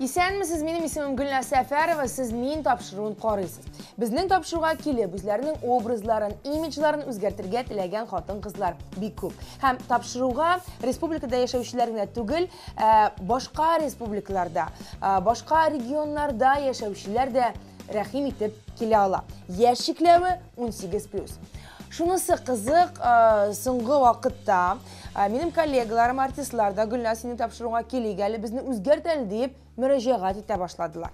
Исәнмесез, минем исемем Гөлнә Сәфәрова, сез мин тапшыруын карыйсыз. Безнең тапшыруга килеп, үзләренең образларын, имиджларын үзгәртергә теләгән хатын-кызлар бик күп. Һәм тапшыруга республикада яшәүчеләр генә түгел, ә, башка республикаларда, ә, башка регионнарда яшәүчеләр дә рәхим итеп килә ала. Яшь чикләве 18+. Шунысы кызык, э, соңгы вакытта э, минем коллегаларым, артистлар да Гөлназ сине тапшыруга килик әле, безне үзгәрт әле диеп мөрәҗәгать итә башладылар.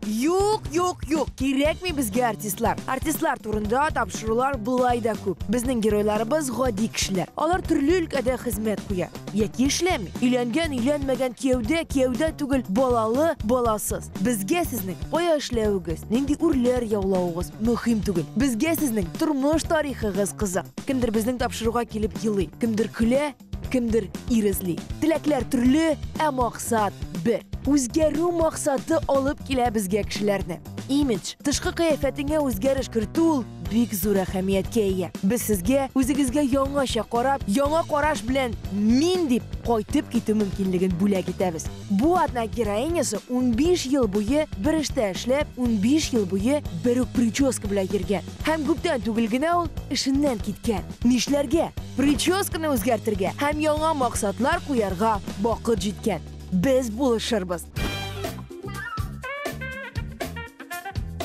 Юк, юк, юк, кирәкми безгә артистлар. Артистлар турында тапшырулар болай да күп. Безнең геройларыбыз гади кешеләр. Алар төрле өлкәдә хезмәт куя. Яки эшләми. Өйләнгән, өйләнмәгән, кияүдә, кияүдә түгел, балалы, баласыз. Безгә сезнең кая эшләвегез, нинди үрләр яулавыгыз мөһим түгел. Безгә сезнең тормыш тарихыгыз кызык. Кемдер безнең тапшыруга килеп елый, кемдер көлә, кемдер ир эзли. Теләкләр төрле, ә максат бер. Үзгәрү максаты алып килә безгә кешеләрне. Имидж, тышкы кыяфәтеңә үзгәреш кертү ул бик зур әһәмияткә ия. Без сезгә үзегезгә яңача карап, яңа караш белән мин дип кайтып китү мөмкинлеген бүләк итәбез. Бу атна героинясы 15 ел буе бер эштә эшләп, 15 ел буе бер үк прическа белән йөргән. Һәм күптән түгел генә ул эшеннән киткән. Нишләргә? Прическаны үзгәртергә һәм яңа максатлар куярга вакыт җиткән. Без булышырбыз.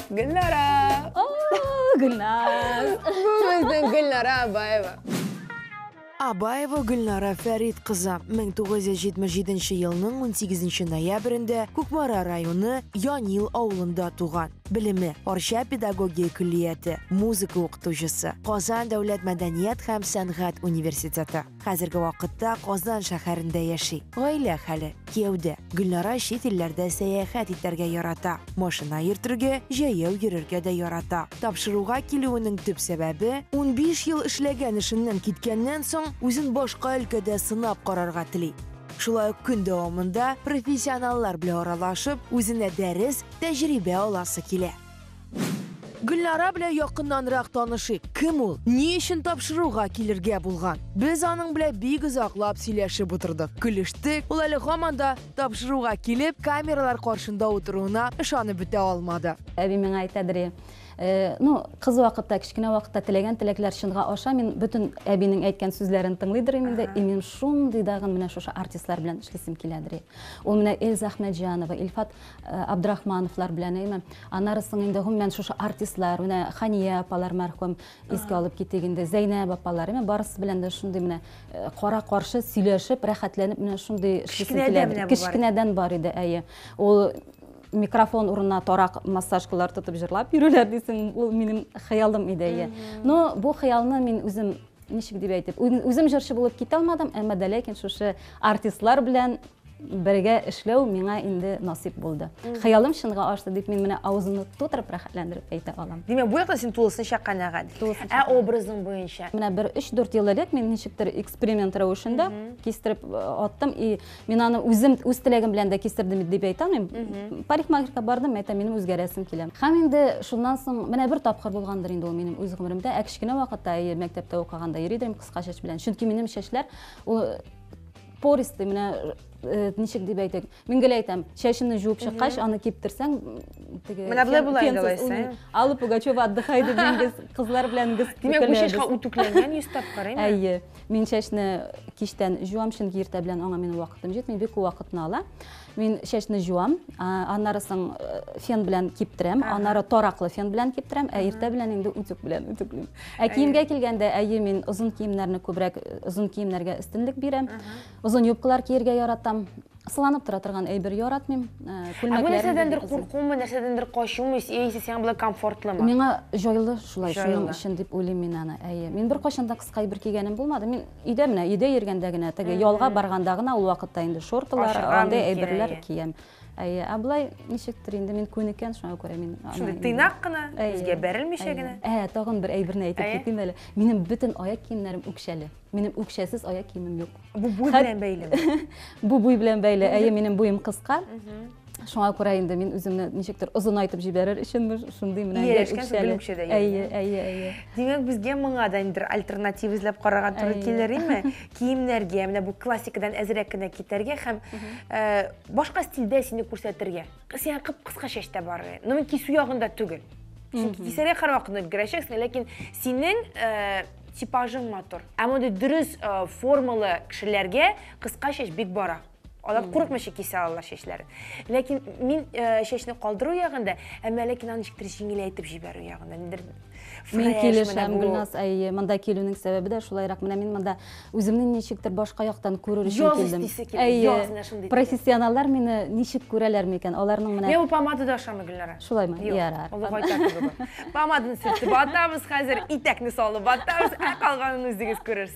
Гөлнара! Гөлназ! Бу безнең Гөлнара Абаева. Абаева Гөлнара Фәрит кызы 1977 елның 18 ноябрендә Кукмара районы Янил авылында туган. Белеме, Арча педагогия көллияте, музыка укытучысы, Казан дәүләт мәдәният һәм сәнгать университеты. Хәзерге вакытта Казан шәһәрендә яши. Гаилә хәле, кияүдә. Гөлнара чит илләрдә сәяхәт итәргә ярата. Машина йөртергә, җәяү йөрергә дә ярата. Тапшыруга килүенең төп сәбәбе, унбиш ел эшләгән эшеннән киткәннән соң, үзен башка өлкәдә сынап карарга тели. Шулай ук көн дәвамында профессионаллар белән аралашып, үзенә дәрес, тәҗрибә аласы килә. Гөлнара белән якыннанрак танышыйк. Кем ул? Ни өчен тапшыруга килергә булган? Без аның белән бик озаклап сөйләшеп утырдык. Көлештек. Ул әле һаман да тапшыруга килеп, камералар каршында утыруына ышанып бетә алмады. Әби миңа әйтә, Дри, э, ну, кыз вакытта, кечкенә вакытта теләгән теләкләр чынга аша. Мин бөтен әбинең әйткән сүзләрен тыңлый дөрим инде. И минем шундый дагын менә шушы артистлар белән эшлисем килә, Дри. Ул менә Эльза Ахмәтҗанова, Илфат Э, Абдрахмановлар белән әйме. Аннары соң инде гомумән шушы артистлар, менә Хания апалар мәрхүм искә алып китик инде, Зәйнәб апалар, әйме барысы белән дә шундый менә э, кара каршы сөйләшеп, рәхәтләнеп менә шундый кечкенәдән бар иде, әйе. Ул микрофон урынына тарак массажкалар тотып җырлап йөрүләр дисең, ул минем хыялым иде, әйе. Но бу хыялны мин үзем ничек дип әйтеп үзем җырчы булып китә алмадым әмма дә ләкин шушы артистлар белән Бергә эшләү миңа инде насыйп булды. Хыялым чынга ашты дип мин менә авызымны тутырып рәхәтләндереп әйтә алам. Димәк, бу яктан син тулысынча канәгать. Ә образың буенча? Менә бер 3-4 ел элек мин ничектер эксперимент рәвешендә кистереп аттым. И мин аны үзем үз теләгем белән дә кистердем дип әйтә алмыйм. Парикмахерка бардым, әйтә, минем үзгәрәсем килә. Һәм инде шуннан соң менә бер тапкыр булгандыр инде ул минем үз гомеремдә. Ә кечкенә вакытта, әйе, мәктәптә укыганда йөри идем кыска чәч белән. Чөнки минем чәчләр ул пористый менә э, ничек дип әйтик мин гел әйтәм чәчемне жуып чыккач аны киптерсәң теге менә болай була инде алайса алла пугачева отдыхай дип без кызлар белән без димәк бу чәчкә үтүкләнгән йөз тапкыр әйме әйе мин чәчне кичтән жуам чөнки иртә белән аңа минем вакытым җитми бик күп вакытны ала Мин чәчне җуам, аннары соң э, фен белән киптерәм, аннары тараклы фен белән киптерәм, ә иртә белән инде үтүк белән үтүклим. Ә киемгә килгәндә, әйе, мин озын киемнәрне күбрәк э, озын киемнәргә өстенлек бирәм. Озын юбкалар киергә яратам. Сыланып тора торган әйбер яратмыйм. Э, Күлмәкләр. Бу нәрсәдәндер куркумы, нәрсәдәндер качумы, яисә сиңа болай комфортлымы? Миңа җайлы шулай, шуның өчен дип уйлыйм мин аны. Әйе. Мин беркайчан да кыска әйбер кигәнем булмады. Мин Өйдә менә өйдә йөргәндә генә, теге ялга барганда гына ул вакытта инде шортылар, андый әйберләр киям. Әйе, ә болай ничектер инде мин күнеккән, шуңа күрә мин Шундый тыйнак кына, үзгә бәрелмичә генә. Ә, тагын бер әйберне әйтеп китим әле. Минем бөтен аяк киемнәрем үкчәле. Минем үкчәсез аяк киемем юк. Бу буй белән бәйлеме? Бу буй белән бәйле. Әйе, минем буем кыска. Шуңа күрә инде мин үземне ничектер озынайтып җибәрер өченме шундый менә инде үкчәле. Әйе, әйе, әйе. Димәк, безгә моңа да инде альтернатив эзләп карарга туры килер име? Киемнәргә, менә бу классикадан әзрәк кенә китәргә һәм э, башка стильдә сине күрсәтергә. Сиңа кып-кыска чәчтә барырга. Ну, мин кисү ягында түгел. Чөнки кисәргә һәрвакытны өлгерәчәксең, ләкин синең э, типажың матур. Ә мондый дөрес э, формалы кешеләргә кыска чәч бик бара. Алар hmm. курыкмыйча кисә алалар чәчләрен. Ләкин мин э, чәчне калдыру ягында, әмма ләкин аны ничектер җиңеләйтеп җибәрү ягында. Ниндер Мин килешәм, Гөлназ, әйе, монда килүнең сәбәбе дә шулайрак. Менә мин монда үземне ничектер башка яктан күрер өчен килдем. Әйе, профессионаллар мине ничек күрәләр микән? Аларның менә Мен бу помаданы ашамы Гөлнара? Шулаймы? Ярар. Олы гайтак Помаданы сүтеп атабыз хәзер, итәкне салып атабыз, ә калганын үзегез күрерсез.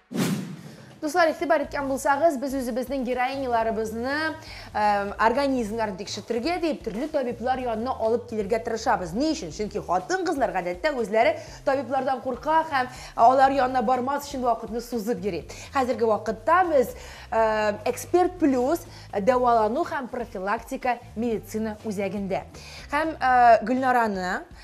Дуслар, игътибар иткән булсагыз, без үзебезнең героиняларыбызны организмнарын тикшертергә дип төрле табиблар янына алып килергә тырышабыз. Ни өчен? Чөнки хатын-кызлар гадәттә үзләре табиблардан курка һәм алар янына бармас өчен вакытны сузып йөри. Хәзерге вакытта без Эксперт плюс дәвалану һәм профилактика медицина үзәгендә. Һәм Гөлнараны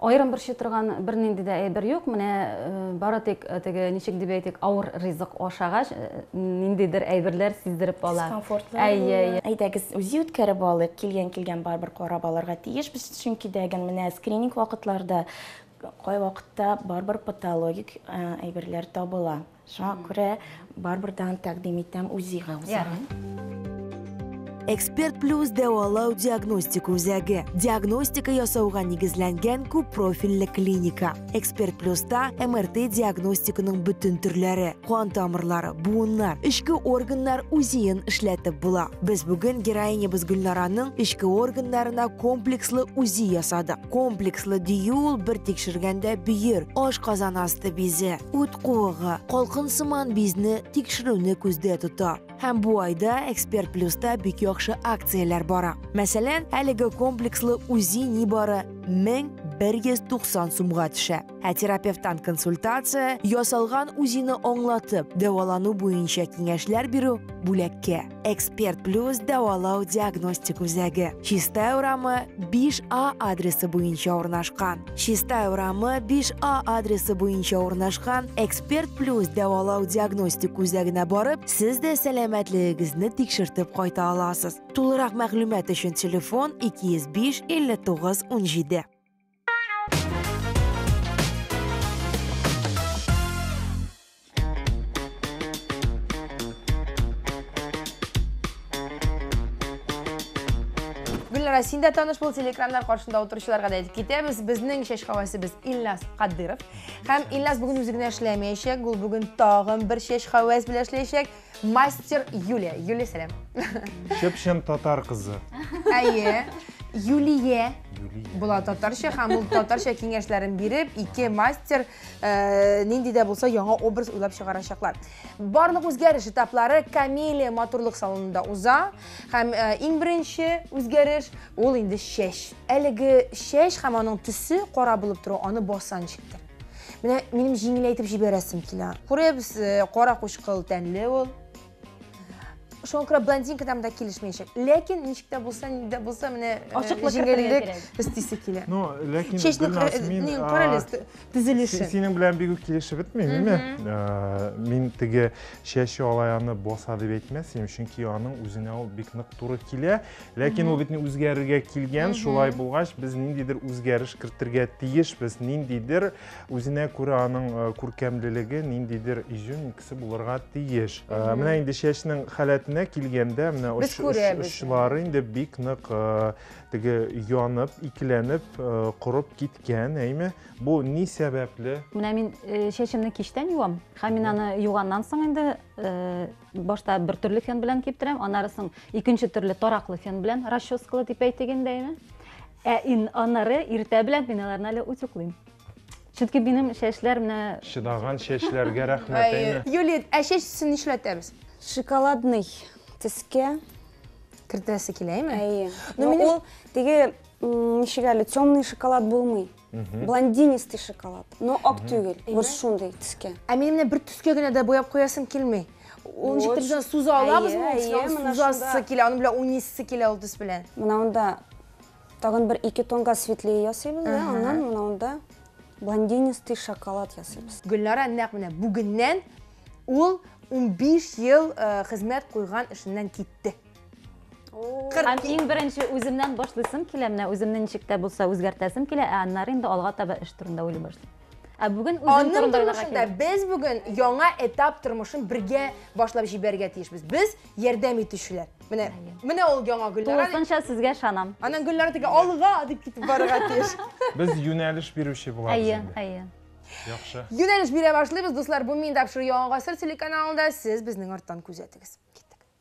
Аерым борчый торган бернинди дә әйбер юк. Менә бары тик теге, ничек дип әйтик, авыр ризык ашагач, ниндидер әйберләр сиздереп ала. Дискомфортлар була. Әйе, әйе. Әйдәгез, үзе үткәреп алыйк. Килгән килгән барыбер карап алырга тиеш без, чөнки дәген менә скрининг вакытларда кайвакытта барыбер патологик әйберләр табыла. Шуңа күрә барыбер тагын тәкъдим итәм УЗИга узарга. Эксперт плюс дәвалау диагностика үзәге. Диагностика ясауга нигезләнгән күп профильле клиника. Эксперт плюста МРТ диагностиканың бөтен төрләре, кан тамырлары, буыннар, эчке органнар үзиен эшләтеп була. Без бүген героинябыз Гөлнараның эчке органнарына комплекслы үзи ясадык. Комплекслы дию ул бер тикшергәндә бөер, аш казан асты бизе, үт ут куыгы, калкын сыман бизне тикшерүне күздә тота. Һәм бу айда Эксперт Плюста бик яхшы акцияләр бара. Мәсәлән, әлеге комплекслы УЗИ нибары 1190 сумга төшә. Ә терапевттан консультация, ясалган УЗИны аңлатып, дәвалану буенча киңәшләр бирү бүләккә. эксперт плюс дәвалау диагностик үзәге чистай урамы 5 а адресы буенча урнашкан чистай урамы 5 а адресы буенча урнашкан эксперт плюс дәвалау диагностик үзәгенә барып сез дә сәламәтлегегезне тикшертеп кайта аласыз тулырак мәгълүмат өчен телефон 205 59 17 Гөлнара, син дә таныш бул телекраннар каршында утыручыларга да әйтеп китәбез. Безнең чәч хавасыбыз Ильназ Кадыров. Һәм Ильназ бүген үзе генә эшләмәячәк, ул бүген тагын бер чәч хавас белән эшләячәк. Мастер Юлия. Юлия, сәлам. Чып-чын татар кызы. Әйе. Юлия була татарча һәм ул татарча киңәшләрен биреп, ике мастер э, нинди дә булса яңа образ уйлап чыгарачаклар. Барлык үзгәреш этаплары Камилия матурлык салонында уза һәм э, иң беренче үзгәреш ул инде чәч. Әлеге чәч һәм аның төсе кара булып тору аны басанчыктыр. Менә минем җиңеләйтеп җибәрәсем килә. Күрәбез, э, кара кучкыл тәнле ул. Шуңа күрә блондинка там да килешмәячәк. Ләкин ничек тә булса, ни дә булса менә э, Ачыклык кертергә җиңеллек кирәк. истисе килә. Ну, ләкин Чәчне Гөлназ, э, мин, не, а, карале, т- си- төзелешен. синең белән бигү килешеп бетмим, име? Ә, Мин теге чәче алаяны боса дип әйтмәс идем, чөнки аның үзенә ул бик нык туры килә. Ләкин ул бит үзгәрергә килгән, шулай булгач, без ниндидер үзгәреш кертергә тиешбез, ниндидер үзенә күрә аның э, күркәмлелеге, ниндидер изюминкасы булырга тиеш. Э, менә инде чәчнең халәтенә килгәндә, менә Без оч- оч- күрәбез. очлары инде бик нык э, теге янып, икеләнеп, э, корып киткән, әйме? Бу ни сәбәпле? Менә мин э, чәчемне кичтән юам, һәм мин аны юганнан соң инде э, башта бер төрле фен белән киптерәм аннары соң икенче төрле тараклы фен белән расческалы дип әйтик инде ә ин аннары иртә белән мин аларны әле утюклыйм чөнки минем чәчләр менә чыдаган чәчләргә рәхмәт әйме юлит ә чәч өстен нишләтәбез шоколадный төскә кертәсе килә әйме әйе но ул теге ничек әле темный шоколад булмый блондинистый шоколад но ак түгел вот шундый төскә ә мин менә бер төскә генә дә бояп куясым килми ул ничек тә суза алабыз сузасы килә аны белән уйныйсы килә ул төс белән мынавында тагын бер ике тонга светлее ясыйбыз да аннан мынавында блондинистый шоколад ясыйбыз гөлнара нәкъ менә бүгеннән ул 15 ел хезмәт куйган эшеннән китте Һәм иң беренче үземнән башлыйсым килә, менә үземне ничек тә булса үзгәртәсем килә, ә аннары инде алга таба эш турында уйлый башлыйм. Ә бүген үзем Аның турында уйларга тормышында кирәк. без бүген яңа этап тормышын бергә башлап җибәрергә тиешбез. Без ярдәм итүчеләр. Менә, Әйе. менә ул яңа Гөлнара. дип- Тулысынча сезгә ышанам. Аннан Гөлнара тиги, алга дип китеп барырга тиеш. Без юнәлеш бирүче булабыз Әйе, инде. әйе. Яхшы. Юнәлеш бирә башлыйбыз, дуслар. Бу мин тапшыру Яңа гасыр телеканалында. Сез безнең арттан күзәтегез. Киттек.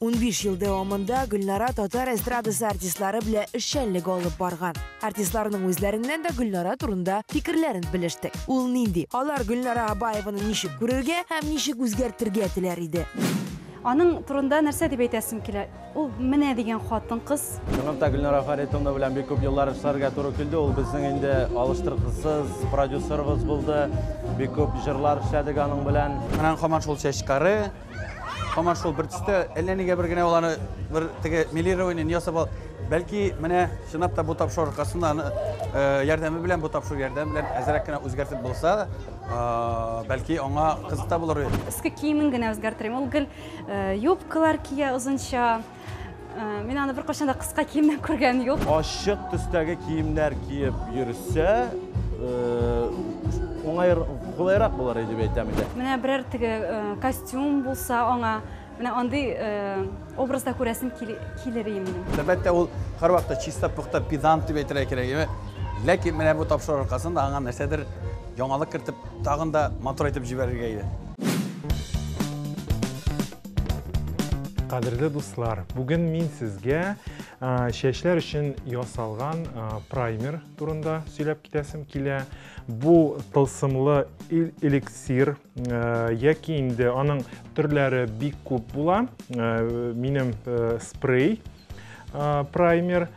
15 ел дәвамында Гөлнара татар эстрадасы артистлары белән эшчәнлек алып барган. Артистларның үзләреннән дә Гөлнара турында фикерләрен белештек. Ул нинди? Алар Гөлнара Абаеваны ничек күрергә һәм ничек үзгәртергә теләр иде? Аның турында нәрсә дип әйтәсем килә? Ул менә дигән хатын-кыз. Чынлыкта Гөлнара Фәритовна белән бик күп еллар эшләргә туры килде. Ул безнең инде алыштыргысыз продюсерыбыз булды. Бик күп җырлар эшләдек аның белән. Аннан һаман шул чәч кары. Һаман шул бер төстә әллә нигә бер генә ул аны бер теге милирование ясап ал. Бәлки менә чынлап та бу тапшыру аркасында аны э, ярдәме белән бу тапшыру ярдәме белән әзрәк кенә үзгәртеп булса, э, бәлки аңа кызык та булыр. Иске киемен генә үзгәртерим. Ул гел э, юбкалар кия озынча. Мин аны беркайчан да кыска киемнән күргән юк. Ачык төстәге киемнәр киеп йөрсә, уңай кулайрак булыр дип әйтәм инде. Менә берәр теге костюм булса аңа, менә андый образда күрәсем килер инде. Әлбәттә, ул һәрвакытта чиста, пөхтә, педант дип әйтергә кирәк. Ләкин менә бу тапшыру аркасында аңа нәрсәдер яңалык кертеп, тагын да матур итеп җибәрергә иде. Кадерле дуслар, бүген мин сезгә чәчләр өчен ясалган праймер турында сөйләп китәсем килә. Бу тылсымлы эликсир яки инде аның төрләре бик күп була. Минем спрей праймер. Праймер.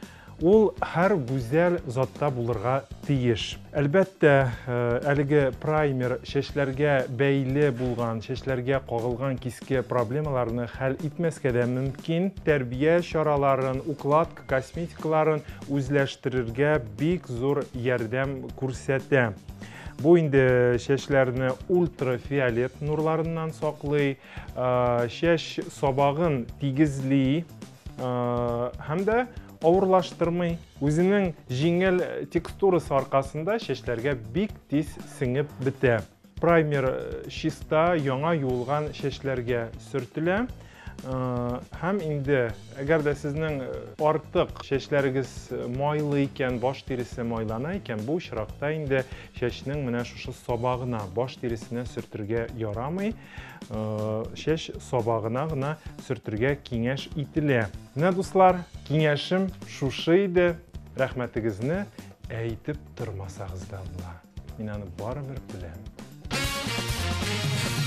Ул һәр гүзәл затта булырга тиеш. Әлбәттә, әлеге праймер чәчләргә бәйле булган, чәчләргә кагылган киске проблемаларны хәл итмәскә дә мөмкин. Тәрбия чараларын, укладка, косметикаларын үзләштерергә бик зур ярдәм күрсәтә. Бу инде чәчләрне ультрафиолет нурларыннан саклый, чәч сабагын тигезли, һәм дә авырлаштырмый. Үзенең җиңел текстурасы аркасында чәчләргә бик тиз сеңеп бетә. Праймер чиста, яңа юылган чәчләргә сөртелә. Һәм инде, әгәр дә сезнең артык чәчләрегез майлы икән, баш тиресе майлана икән, бу очракта инде чәчнең менә шушы сабагына, баш тиресенә сөртергә ярамый. чәч сабагына гына сөртергә киңәш ителә. Менә дуслар, киңәшем шушы иде. Рәхмәтегезне әйтеп тормасагыз да була. Мин аны барыбер беләм.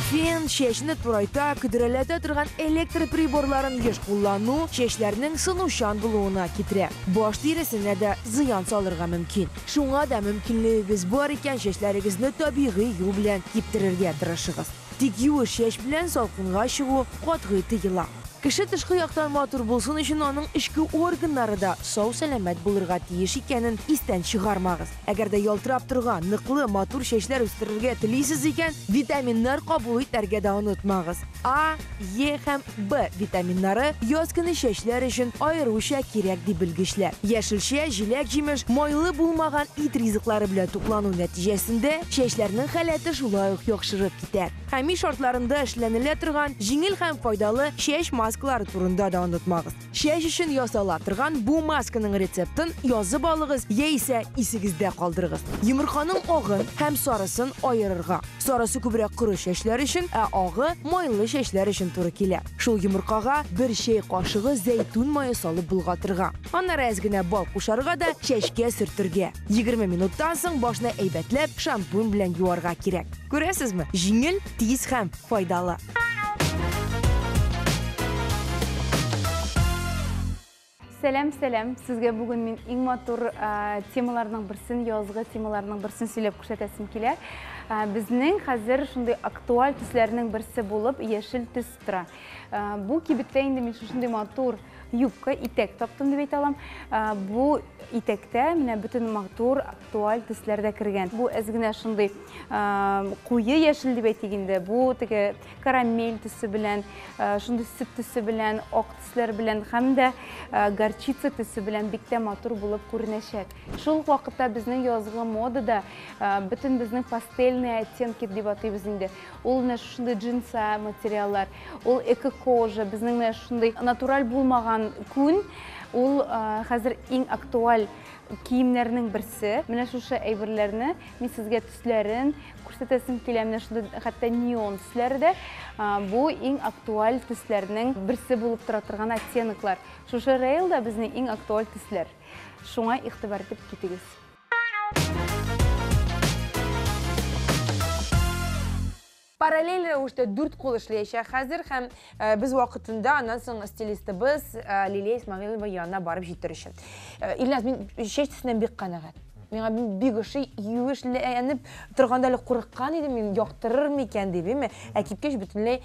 Фен, чәчне турайта, көдрәләтә торган электр приборларын еш куллану чәчләрнең сынучан булуына китерә. Баш тиресенә дә зыян салырга мөмкин. Шуңа да мөмкинлегегез бар икән, чәчләрегезне табигый юл белән киптерергә тырышыгыз. Тик юеш чәч белән салкынга чыгу катгый тыела. Кеше тышкы яктан матур булсын өчен аның эчке органнары да сау-сәламәт булырга тиеш икәнен истән чыгармагыз. Әгәр дә ялтырап торган, ныклы, матур чәчләр үстерергә телисез икән, витаминнар кабул итәргә дә онытмагыз. А, Е һәм Б витаминнары яз көне чәчләр өчен аеруча кирәк, ди белгечләр. Яшелчә, җиләк-җимеш, майлы булмаган ит ризыклары белән туклану нәтиҗәсендә чәчләрнең халәте шулай ук яхшырып китә. Хәми шартларында эшләнелә торган җиңел һәм файдалы чәч маскалары турында да онытмагыз. Чәч өчен ясала торган бу масканың рецептын язып алыгыз яисә исегездә калдырыгыз. Йомырканың агын һәм сарысын аерырга. Сарысы күбрәк коры чәчләр өчен, ә агы майлы чәчләр өчен туры килә. Шул йомыркага бер чәй кашыгы зәйтүн мае салып болгатырга. Аннары әз генә бал кушарга да чәчкә сөртергә. Егерме минуттан соң башны әйбәтләп шампунь белән юарга кирәк. Күрәсезме, җиңел, тиз һәм файдалы. Сәләм, сәләм. Сезгә бүген мин иң матур темаларның берсен, язгы темаларның берсен сөйләп күрсәтәсем килә. Безнең хәзер шундый актуаль төсләрнең берсе булып яшел төс тора. Бу кибеттә инде мин шушындый матур юбка, итәк таптым дип әйтә алам. Бу итәктә менә бөтен матур, актуаль төсләр дә кергән. Бу әз генә шундый куе яшел дип әйтик инде. Бу теге карамель төсе белән, шундый сөт төсе белән, ак төсләр белән һәм дә горчица төсе белән бик тә матур булып күренәчәк. Шул вакытта безнең язгы модада бөтен безнең пастельные оттенки дип атыйбыз инде. Ул менә шушындый джинса материаллар, ул эко-кожа, безнең менә шушындый натураль булмаган күн, ул хәзер иң актуаль киемнәрнең берсе. Менә шушы әйберләрне мин сезгә төсләрен күрсәтәсем килә. Менә шундый хәтта неон төсләре дә бу иң актуаль төсләрнең берсе булып тора торган оттенклар. Шушы рейлда безнең иң актуаль төсләр. Шуңа игътибар итеп китегез. Параллель рәвештә дүрт кул эшләячәк хәзер һәм э, без вакытында аннан соң стилистыбыз э, Лилия Исмагилова янына барып җитер өчен. Э, Илназ, мин чәч төсеннән бик канәгать. Миңа бик ошый, юешләнеп торганда әле курыккан идем мин, яктырыр микән дип, әйме? Ә кипкәч бөтенләй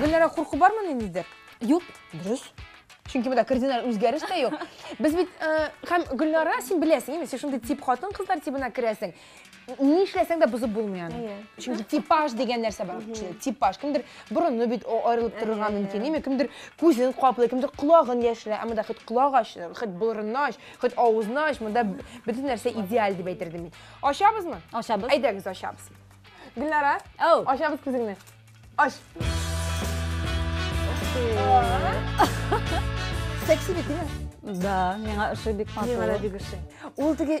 Гөлнара, курку бармы ниндидер? Юк, дөрес. Чөнки монда кардинал үзгәреш тә юк. Без бит э, һәм Гөлнара, син беләсең, инде син шундый тип хатын-кызлар тибына керәсең. ни эшләсәң дә бозып булмый аны чөнки типаж дигән нәрсә бар кешедә типаж кемдер борыны бит аерылып торырга мөмкин әйме кемдер күзен каплый кемдер колагын яшерә ә монда хоть колак ач хоть борынны ач хоть авызны ач монда бөтен нәрсә идеаль дип әйтер идем мин ачабызмы ачабыз әйдәгез ачабыз гөлнара ачабыз күзеңне Ay. Секси бит, değil mi? Да, миңа ошый бик матур. Миңа да бик ошый. Ул теге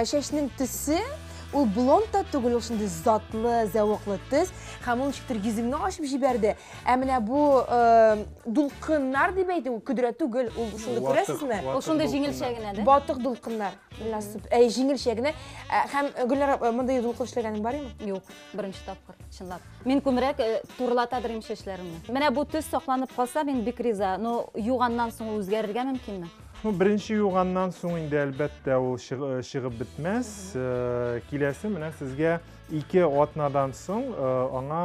чәчнең төсе, ул блонд та түгел, ул шундый затлы, зәвыклы төс. Һәм ул ничектер йөземне ачып җибәрде. Ә менә бу дулкыннар дип әйтү, көдрә түгел, ул шундый күрәсезме? Ул шундый җиңелчә генә, да? Батык дулкыннар. Әй, җиңелчә генә. Һәм Гөлнара, мондый дулкын эшләгәнең бармы? Юк. Беренче тапкыр, чынлап. Мин күмрәк э, турылата белмим чәчләремне. Менә бу төс сакланып калса, мин бик риза. Но юганнан соң үзгәрергә мөмкинме? Ну, беренче юганнан соң инде әлбәттә ул э, чыгып бетмәс. Э, киләсе менә сезгә ике атнадан соң аңа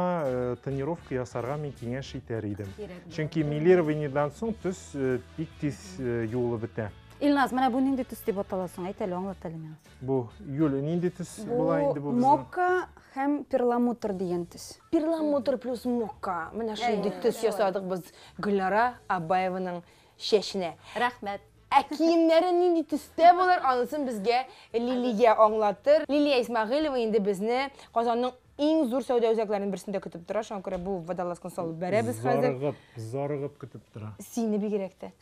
тренировка ясарга мин киңәш итәр идем. Чөнки милированиедән соң төс бик тиз юылып бетә. Илназ, менә бу нинди төс дип атала соң? Әйт әле, аңлат әле миңа. Бу Юля нинди төс була инде бу безнең? Мокка һәм перламутр дигән төс. Перламутр плюс мокка. Менә шундый төс ясадык без Гөлнара Абаеваның чәченә. Рәхмәт. Ә киемнәре нинди төстә булыр, анысын безгә Лилия аңлатыр. Лилия Исмагыйлова инде безне Казанның иң зур сәүдә үзәкләренең берсендә көтеп тора. Шуңа күрә бу водолазканы салып бәрәбез хәзер. Зарыгып, зарыгып көтеп тора. Сине бигрәк тә.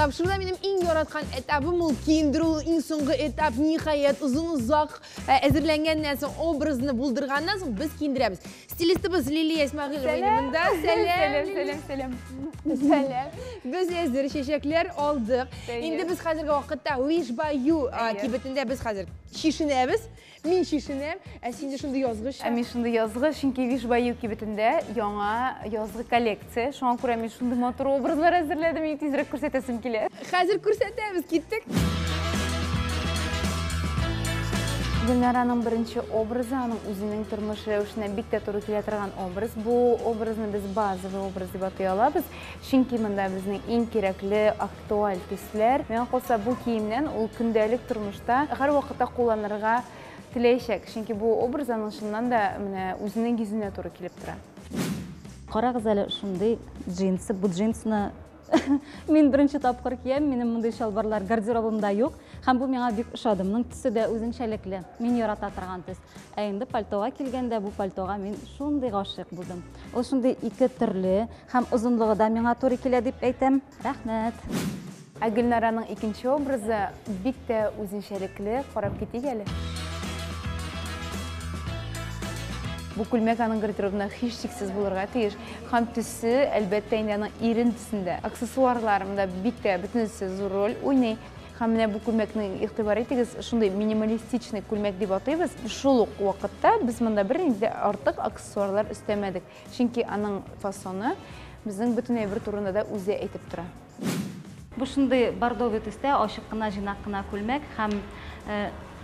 Тапшыруда минем иң яраткан этабым ул киендерү, иң соңгы этап, ниһаять, озын озак э, әзерләнгәннән соң, образны булдырганнан соң без киендерәбез. Стилистыбыз Лилия Исмагилова инде монда. Сәлам, сәлам, сәлам. Сәлам. Без әзер чәчәкләр алдык. Инде без хәзерге вакытта Wish by You э, кибетендә без хәзер чишенәбез. Мин чишенәм, ә синдә шундый язгы чак. Ә мин шундый язгы, чөнки Вишбаю кибетендә яңа язгы коллекция. Шуңа күрә мин шундый матур образлар әзерләдем, и тизрәк күрсәтәсем килә. Хәзер күрсәтәбез, киттек. Гөлнараның беренче образы, аның үзенең тормыш рәвешенә бик тә туры килә торган образ. Бу образны без базовый образ дип атый алабыз, чөнки монда безнең иң кирәкле Туаль төсләр. Миңа калса, бу киемнән ул көндәлек тормышта һәрвакытта кулланырга теләячәк, чөнки бу образ аның чыннан да менә үзенең йөзенә туры килеп тора. Карагыз әле шундый джинсы, бу джинсны мин беренче тапкыр киям, минем мондый чалбарлар гардеробымда юк, һәм бу миңа бик ошады, моның төсе дә үзенчәлекле, мин ярата торган төс. Ә инде пальтога килгәндә, бу пальтога мин шундый гашыйк булдым. Ул шундый ике төрле һәм озынлыгы да миңа туры килә дип әйтәм. Рәхмәт. Ә Гөлнараның икенче образы бик тә үзенчәлекле, карап китик әле. Бу күлмәк аның гардеробына һичшиксез булырга тиеш. Һәм төсе, әлбәттә, инде аның ирен төсендә. Аксессуарларында бик тә бөтенесе зур роль уйный. Һәм менә бу күлмәкне игътибар итегез, шундый минималистичный күлмәк дип атыйбыз. Шул ук вакытта без монда бернинди дә артык аксессуарлар өстәмәдек, чөнки аның фасоны безнең бөтен әйбер турында да үзе әйтеп тора. Бу шундый бордовый төстә ачык кына, җыйнак кына күлмәк һәм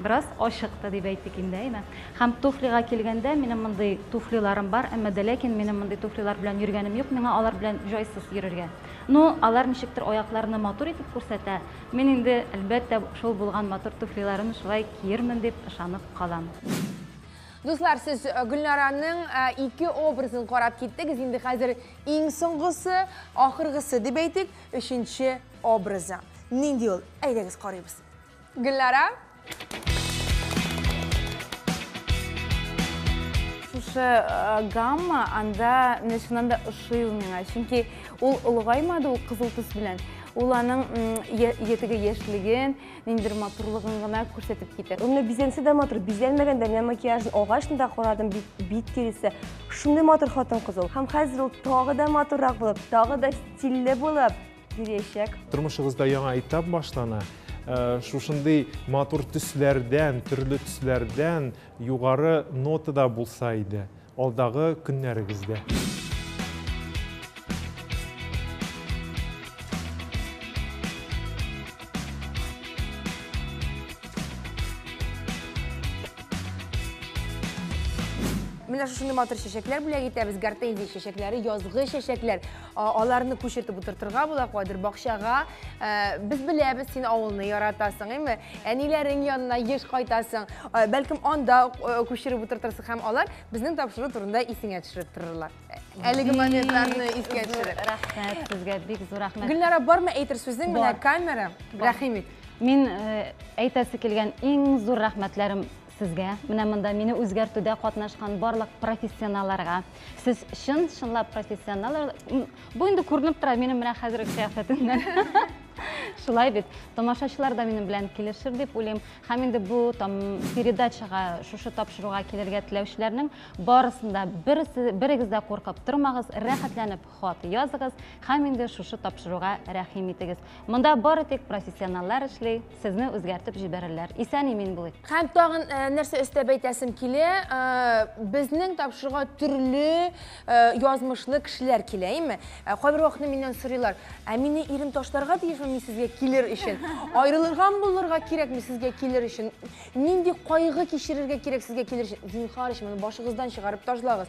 бераз ачык та дип әйтик инде, әйме? Һәм туфлига килгәндә, минем мондый туфлиларым бар, әмма дә ләкин минем мондый туфлилар белән йөргәнем юк, миңа алар белән җайсыз йөрергә. Ну, алар ничектер аякларны матур итеп күрсәтә, мин инде, әлбәттә, шул булган матур туфлиларымны шулай киермен дип ышанып калам. Дуслар, сез Гөлнараның ике образын карап киттегез, инде хәзер иң соңгысы, ахыргысы дип әйтик, өченче образы. Нинди ул? Әйдәгез карыйбыз. Гөлнара. Шушы э, гамма анда менә чыннан да ошый ул миңа, чөнки ул олыгаймады ул кызыл төс белән. Ул аның ятеге яшьлеген, ниндидер матурлыгын гына күрсәтеп китә. Ул менә бизәнсә дә матур, бизәнмәгән дә менә макияжын агачны да карадым, бит, бит тиресе. Шундый матур хатын-кыз ул. Һәм хәзер ул тагы да матуррак булып, тагы да стильле булып, бирәчәк. Тормышыгызда яңа этап башлана. Э, шушындый матур төсләрдән, төрле төсләрдән югары нотада булса иде алдагы көннәрегездә. Менә шушындай матур чәчәкләр бүләк итәбез. Гортензия чәчәкләре, язгы чәчәкләр. аларны күчертеп утыртырга була кадер бакчага э, без беләбез син авылны яратасың әйме әниләрең янына еш кайтасың э, бәлкем анда э, күчереп утыртырсың һәм алар безнең тапшыру турында исеңә төшереп торырлар әлеге моментларны искә төшереп рәхмәт сезгә бик зур рәхмәт гөлнара бармы әйтер сүзең менә камера рәхим ит мин әйтәсе килгән иң зур рәхмәтләрем Сезгә, менә монда мине үзгәртүдә катнашкан барлык профессионалларга. Сез чын, чынлап профессионаллар. Бу инде күренеп тора минем менә хәзерге кыяфәтемнән. Шулай бит. Тамашачылар да минем белән килешер дип уйлыйм. Һәм инде бу там передачага, шушы тапшыруга килергә теләүчеләрнең барысын да берегез дә куркып тормагыз, рәхәтләнеп хат языгыз һәм инде шушы тапшыруга рәхим итегез. Монда бары тик профессионаллар эшли, сезне үзгәртеп җибәрерләр. Исән имин булыйк. Һәм тагын э, нәрсә өстәп әйтәсем килә, э, безнең тапшыруга төрле э, язмышлы кешеләр килә, әйме? Кайбер вакытны миннән сорыйлар, ә мине ирем ташларга тиешме мин сезгә килер өчен? Аерылырга булырга кирәкме сезгә килер өчен? Нинди кайгы кичерергә кирәк сезгә килер өчен? Зинхар өчен, моны башыгыздан чыгарып ташлагыз.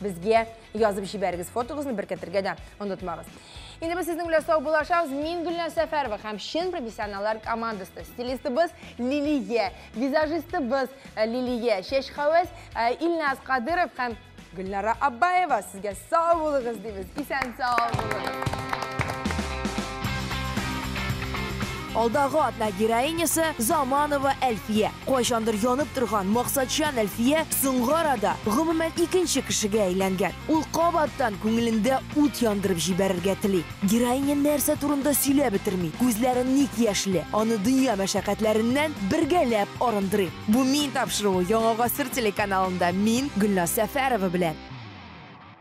Безгә язып җибәрегез фотогызны беркетергә дә онытмагыз. Инде без сезнең белән сау булашабыз. Мин Гөлназ Сәфәрова һәм чын профессионаллар командасы. Стилистыбыз Лилия, визажистыбыз э, Лилия, чәч хәвәс э, Илназ Кадыров һәм Гөлнара Аббаева. Сезгә сау булыгыз дибез. Исән сау булыгыз. Алдагы атна героинясы Заманова Әлфия. Кайчандыр янып торган максатчан Әлфия соңгы арада гомумән икенче кешегә әйләнгән. Ул кабаттан күңелендә ут яндырып җибәрергә тели. Героиня нәрсә турында сөйләп бетерми, күзләре ник яшьле, аны дөнья мәшәкатьләреннән бергәләп арындырыйк. Бу Мин тапшыруы Яңа гасыр телеканалында мин, Гөлназ Сәфәрова белән.